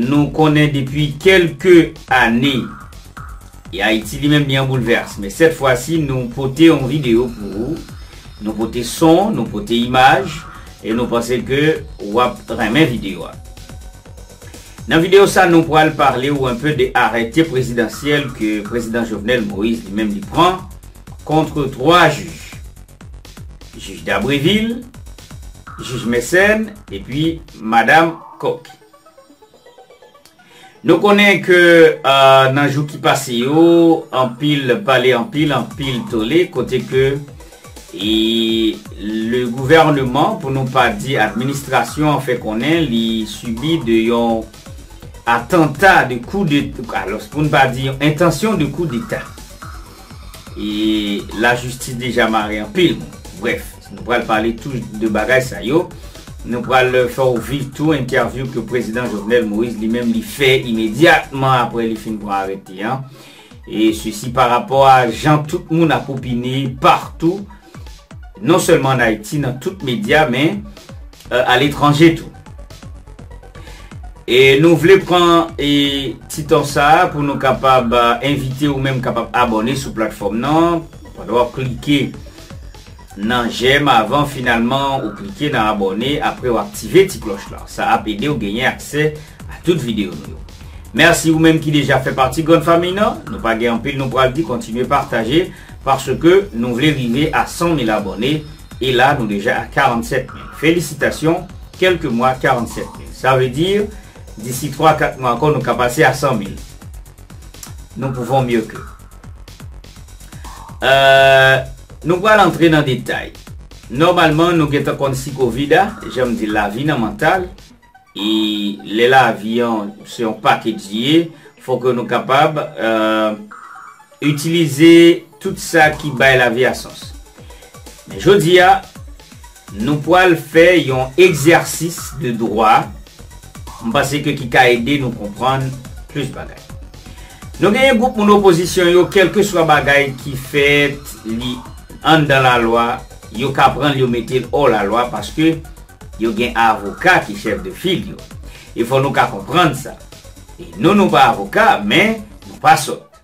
Nou konnen depi kelke ane e Ayiti li menm li an boulvès men sèt fwa si nou pote yon video pou ou, nou pote son, nou pote imaj e nou panse ke wap renmen video a. Nan video sa nou pwal pale ou enpe de arète prezidansyèl ke Prezidan Jovenel Moïse li menm li pran kontre 3 jij. Jij Dabrevil, jij Mecène epi Madam. Cook. Nou konnen ke nan jou ki pase yo, anpil pale anpil, anpil tole, kote ke le gouvernement, pou nou pa di administrasyon an fè konnen li subi de yon atanta de kou de, alos pou nou pa di yon entansyon de kou deta. E la jistis deja mare anpil moun. Bref. Nou pral pale tou de bagay sa yo. Nou pral fè w viv tou entèvyou ke Prezidan Jovenel Moïse li menm li fè imedyatman apre li fin pran arete an. E sesi pa rapò a jan tout moun ap opine partou, non sèlman an Ayiti nan tout medya men a letranje tou. E nou vle pran e ti tan sa pou nou kapab envite ou menm kapab abòne sou platfòm nan pandan w ap klike. Nan jèm avan finalman ou klike nan abòne apre ou aktive ti klòch lan sa ap edew genyen aksè a tout video nou yo merci ou menm ki deja fè pati grand famille nan nou pa gen anpil nou pral di kontinye pataje paske nou vle rive a 100 mil abòne e la nou deja a 47 mil felisitasyon kelke mwa 47 mil sa vle di disi 3 4 mwa ankò nou ka pase a 100 mil nou pouvon mye ke. Nou pral antre nan detay. Nòmalman nou gentan konn si covid a, jan m di l la vi nan mantal e lè la vi an se yon pakej li ye, fò ke nou kapab itilize tout sa ki bay la vi a sans. Men jodi a. Nou pwal fè yon egzèsis de dwa, m panse ke ki ka ede nou konprann plis bagay. Nou genyen gwoup moun opozisyon yo kèlkeswa bagay ki fèt li anndan lalwa yo ka pran l yo mete l ò lalwa paske yo gen avoka ki chèf de fil yo. E fò nou ka konprann sa. E nou nou pa avoka men nou pa sòt.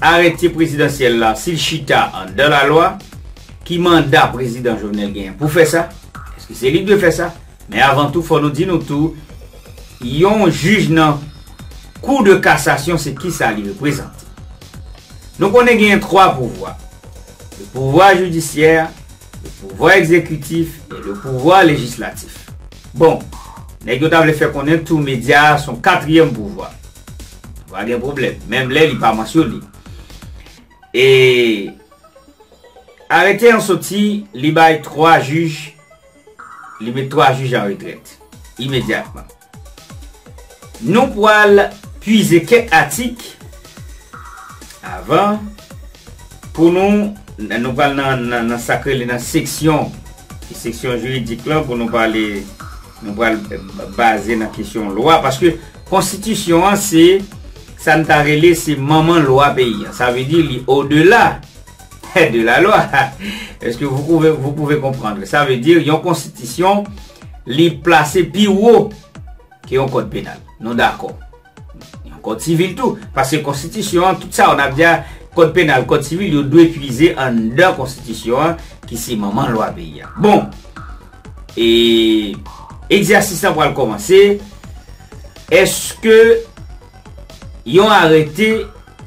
Arete prezidansyèl la, si l chita anndan lalwa, ki manda prezidan Jovenel genyen pou fè sa? Eske se li k dwe fè sa? Men avan tou, fò nou di nou tou, yon jij nan Kou de kasasyon se ki sa li reprezante? Nou konnen genyen twa pouvwa, le pouvwa jidisyè, le pouvwa egzekitif e le pouvwa lejislatif. Bon, nèg yo ta vle fè konnen tou medya a s on katriyèm pouvwa. Va gen pwoblèm. Menm lè li pa mansyone. E Arete an soti, li bay 3 jij, li met 3 jij an retrèt. Imedyatman. Nou pwal pwize kèk atik avan pou nou, nou pwal nan sa k rele nan seksyon, seksyon jiridik lan pou nou pale. Nou pral baze nan kesyon lwa paske konstitisyon an se sa n ta rele se manman lwa peyi an. Sa vle di li o de la de la lwa. Eske vou pouve vou pouve konprann? Sa vle di yon konstitisyon li plase pi wo ke yon kòd penal. Nou dakò. Yon kòd sivil tou, paske konstitisyon an, tout sa yo n ap di a, kòd penal, kòd sivil, yo dwe pwize anndan konstitisyon an ki se manman lwa peyi a. Bon, e, egzèsis lan pral kòmanse, èske yon arete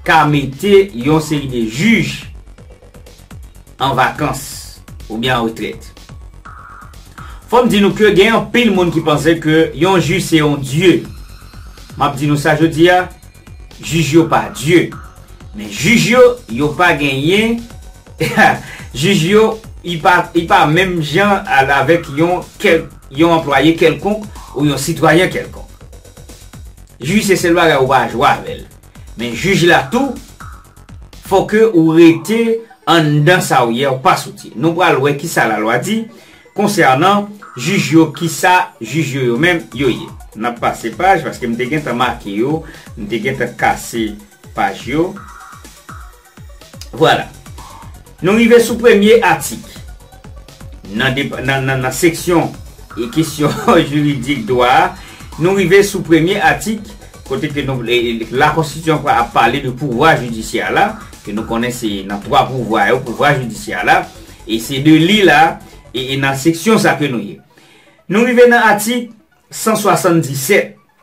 ka mete yon seri de jij an vakans oubyen an retrèt. Fò m di nou ke gen anpil moun ki panse ke yon jij se yon dye. M ap di nou sa jodi a, jij yo pa dye. Men jij yo, yo pa genyen, jij yo, y pa menm jan avèk yon anplwaye kèlkonk ou yon sitwayen kèlkonk. Jij se sèl bagay ou pa jwe avè l. Men jij la tou fò ke ou rete anndan sa ou ye ou pa soti. Nou pral wè kisa lalwa di konsènan jij yo kisa jij yo yo menm yo ye. Nap pase paj paske m te gentan make yo, m te gentan kase paj yo. Vwala. Nou rive sou premye atik. Nan seksyon e kesyon jiridik dwa a, nou rive sou premye atik kote ke nou la konstitisyon ap pale de pouvwa jidisyè la, ke nou konnen se nan 3 pouvwa yo pouvwa jidisyè la, e se de li la e nan seksyon sa ke nou ye. Nou rive nan atik 177.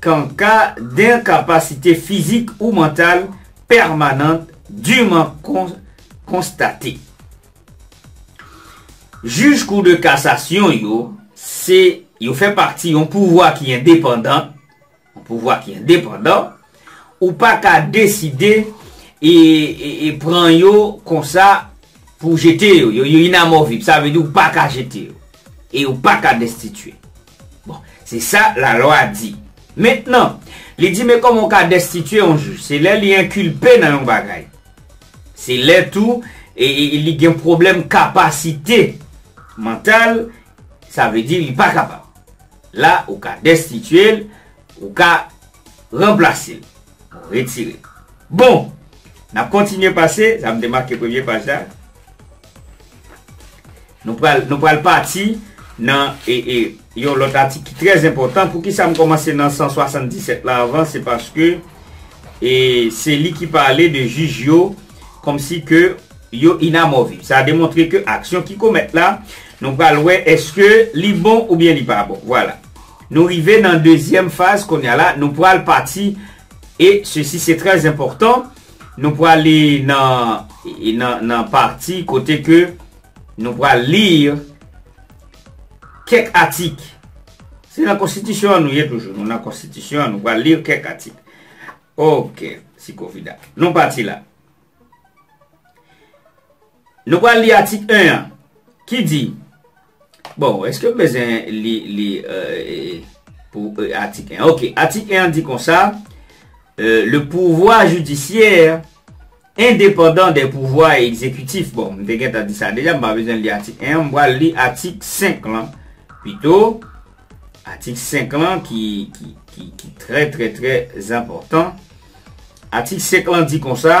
Kan ka d'enkapasite fizik ou mantal pèmanant diman konstate. Jij Kou de Kasasyon yo se yo fè pati yon pouvwa ki endepandan, yon pouvwa ki endepandan, ou pa ka deside e pran yo konsa pou jete yo, yo inamovib, sa vle di ou pa ka jete yo e ou pa ka destitye. Bon, se sa lalwa di. Mentnan, li di men kòman w ka destitye yon jij? Se lè li enkilpe nan yon bagay. Se lè tou li gen pwoblèm kapasite mantal, sa vle di li pa kapab. La, ou ka destitye l, ou ka ranplase l. Retire. Bon! N ap kontinye pase, sa m te make premye paj la. Nou pral, nou pral pati nan e, e, yon lòt atik ki trè enpòtan. Poukisa m kòmanse nan 177 la anvan? Se paske e, se li ki pale de jij yo kòmsi ke yo inamoviv. Sa demontre ke aksyon ki komèt la, nou pral wè èske li bon oubyen li pa bon. Vwala. Nou rive nan dezyèm faz konya la nou pral pati e sesi se trè enpòtan nou prale nan nan pati kote ke nou pral lir kèk atik se nan konstitisyon an nou ye toujou nou nan konstitisyon an nou pral lir kèk atik ok si kovida nou pati la. Nou pral li atik 1 an ki di Bon, eske m bezwen li li pou atik 1 an? Ok, atik 1 an di konsa, Le pouvwa jidisyè endepandan de pouvwa egzekitif. Bon, m te gentan di sa deja, m pa bezwen li atik 1 an, m pral li atik 5 lan pito. Atik 5 lan ki trè trè trè zanpòtan. Atik 5 lan di konsa.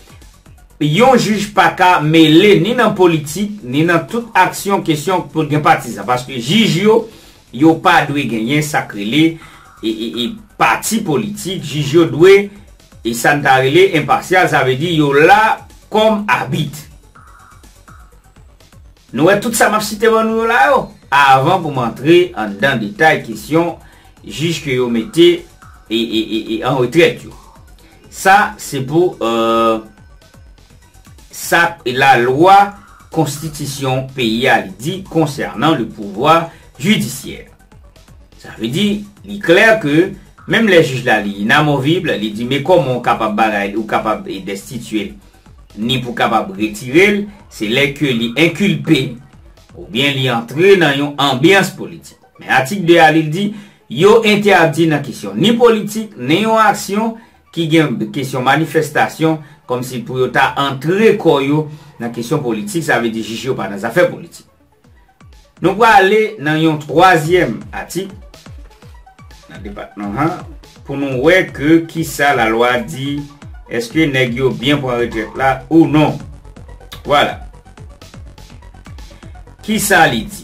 Yon jij pa ka mele ni nan politik, ni nan tout aksyon kesyon pou gen patizan. Paske jij yo, yo pa dwe genyen sa k rele pati politik. Jij yo dwe sa n ta rele enpasyal, sa vle di yo la kòm abit. Nou wè tout sa m ap site ban nou yo la yo, avan pou m antre anndan detay kesyon jij ke yo mete an retrèt yo. Sa se pou sa lalwa konstitisyon peyi a li di konsènan le pouvwa jidisyè. Sa vle di, li klè ke menm lè jij la li inamovib, li di men kòman ou kapab bagay, ou kapab destitye l, ni pou kapab retire l, se lè ke li enkilpe, oubyen li antre nan yon anbyans politik. Men atik 2 a li di, Yo entèdi nan kesyon ni politik, ni yon aksyon ki gen kesyon manifestasyon, kòmsi pou yo ta antre kò yo nan kesyon politik, sa vle di jij yo pa nan zafè politik. Nou prale nan yon twazyèm atik nan depatman an pou nou wè ke kisa lalwa di, èske nèg yo byen pran retrèt la ou non. Vwala. Kisa li di?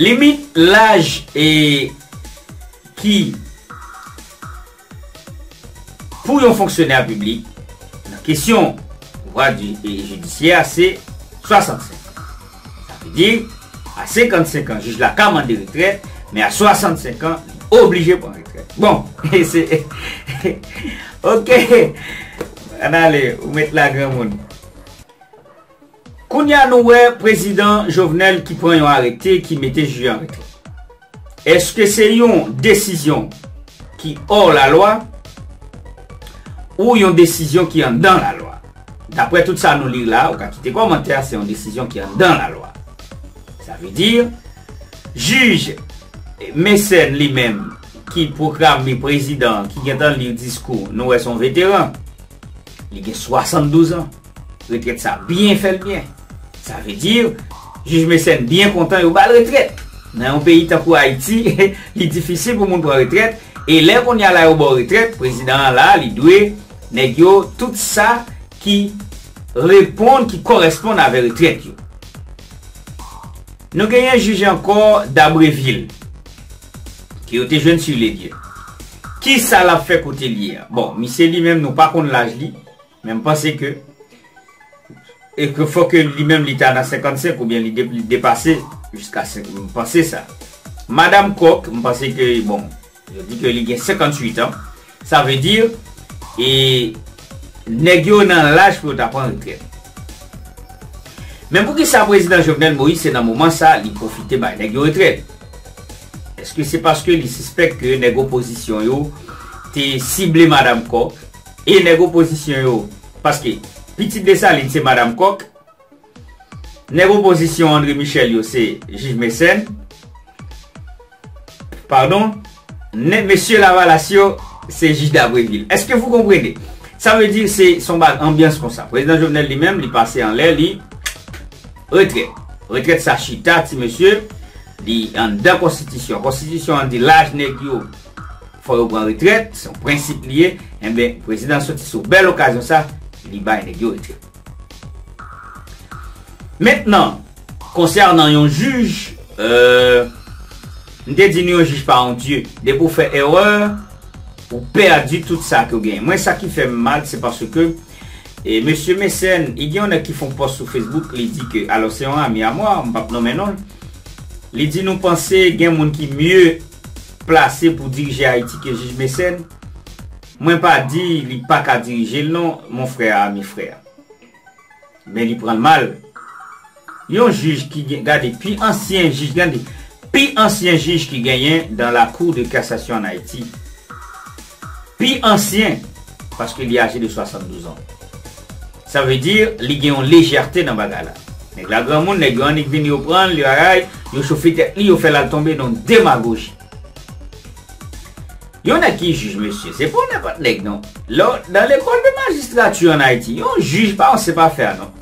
Limit laj e ki pou yon fonksyonè piblik nan kesyon pouvwa jidisyè a se 65. Sa vle di, a 55 an jij la ka mande retrèt, men a 65 an li oblije pran retrèt. Bon, e se ok! An ale, ou met la granmoun. Kounya nou wè prezidan Jovenel ki pran yon arete ki mete jij yo an retrè. Eske se yon desizyon ki or la lwa ou yon desizyon ki anndan la lwa? Daprè tout sa nou li la, ou ka kite kòmantè a, se yon desizyon ki anndan la lwa. Sa vle di, jij Mécène li menm ki pwokrame prezidan ki gentan li diskou, nou wè se yon veteran. Li gen 72 an. Retrèt sa byen fèl byen. Sa vle di Jij Mécène byen kontan yo bal retrèt. Nan yon peyi tankou Ayiti, li difisil pou moun pran retrèt, e lè konnya la yo baw retrèt, prezidan an la li dwe nèg yo tout sa ki reponn, ki kòresponn avè retrèt yo. Nou genyen jij ankò Dabreville, ke yo te jwenn sur les lieux. Kisa lap fè kote li ye a? Bon, misye li menm nou pa konn laj li. Men m panse ke e ke fò ke li menm li ta nan 55 ou byen li depase jiska m panse sa. Madam Coq, m panse ke bon yo di ke li gen 58 an, sa vle di e nèg yo nan laj pou yo ta pran retrèt. Men pou ki sa Prezidan Jovenel Moïse se nan moman sa li pwofite bay nèg yo retrèt? Eske se paske li sispèk ke nèg opozisyon yo te sible Madam Coq E nèg opozisyon yo, paske pitit Desalin se Madam Kòk, nèg opozisyon Andre Michel yo se Jij Mecène, pardon, nèg mesye Lavalas yo se Jij Dabrevil. Eske vou konprene? Sa vle di se son ba anbyans konsa. Prezidan Jovenel li menm li pase anlè li retrèt. Retrèt sa chita ti mesye, li anndan konstitisyon. Konstitisyon an di laj nèg yo. Fò yo pran retrèt, se yon prensip li ye, enben prezidan soti sou bèl okazyon sa li bay nèg yo retrèt. Mentnan, konsènan yon jij, m te di nou yon jij pa yon dye, depi ou fè erè, ou pèdi tout sa ke ou genyen. Mwen sa ki fè m mal se paske mesye Mecène, e gen yon nèg ki fè yon pòs sou Facebook li di ke, alò se yon ami a mwa, m pap nonmen non l, li di nou panse gen moun ki mye plase pou dirije Ayiti ke Jij Mécène, mwen pa di li pa ka dirije l non, mon frère a mi frère. Men li pran l mal. Yon jij ki gen, gade, pi ansyen jij, gade, pi ansyen jij ki genyen dans la cour de cassation en Ayiti, pi ansyen, paske li aje de 72 ans. Sa vle di li gen yon lejète nan bagay la. Nèg la granmoun, nèg yo annik vini yo pran l, li raray, yo chofe tèt li, yo fè l al tonbe nan yon demagoji. Yon nèg ki jij mesye, se pa yon nenpòt nèg non. Lè w nan lekòl de majistrati an Ayiti, yon jij pa yon sèpafè a non.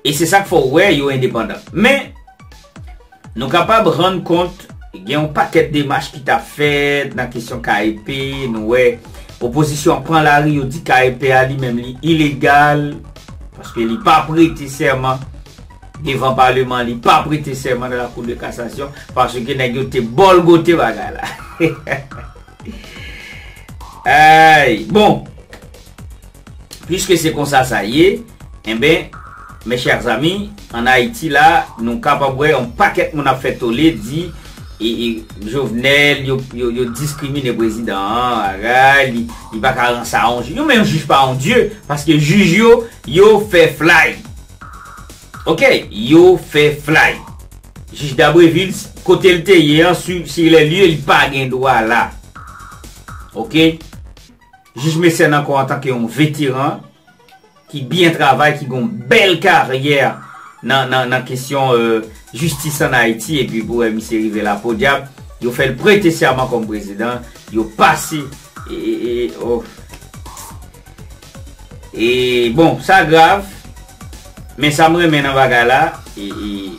E se sa k fè w wè yo endepandan. Men, nou kapab rann kont gen yon pakèt demach ki t ap fèt nan kesyon KEP, nou wè opozisyon an pran lari yo di KEP a li menm li ilegal paske li pa prete sèman devan paleman, li pa prete sèman nan lakou de kasasyon paske nèg yo te bòlgote bagay la. Ayy! Bon! Puiske se konsa sa ye, enben, mes chers amis, an Ayiti la, nou kapab wè yon pakèt moun ap fè tole, di, Jovenel, yo diskrimine prezidan an, bagay, li pa ka ran sa a yon jij. Yo men yon jij pa yon dye, paske jij yo, yo fè flay. Ok, yo fè flay. Jij Dabrevil, kote l te ye an, sur les lieux, li pa gen dwa la. Ok. Jij Mécène ankò antanke yon veteran ki byen travay, ki gen yon bèl karyè nan kesyon jistis an Ayiti epi pou wè misye rive la podyab yo fè l prete sèman kòm prezidan, yo pase e bon sa grav men sa m renmen nan bagay la e.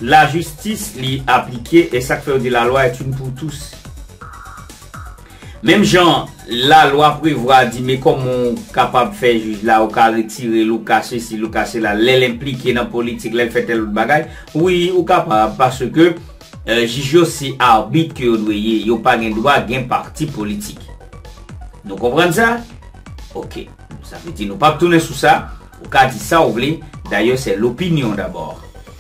La justice li aplike e sak fèw di la loi est une pour tous. Menm jan la lwa prevwa di me koman w kapab fè jij la ou ka retirel ou ka sesi ou ka sela lèl enplike nan politik lèl fè tèl lòt bagay wi ou kapab paske jij yo se arbit ke yo dwe ye yo pa gen dwa gen parti politik nou konprann sa ok sa vle di nou pap tounen sou sa ou ka di sa ou vle dayè se lopinyon dabò.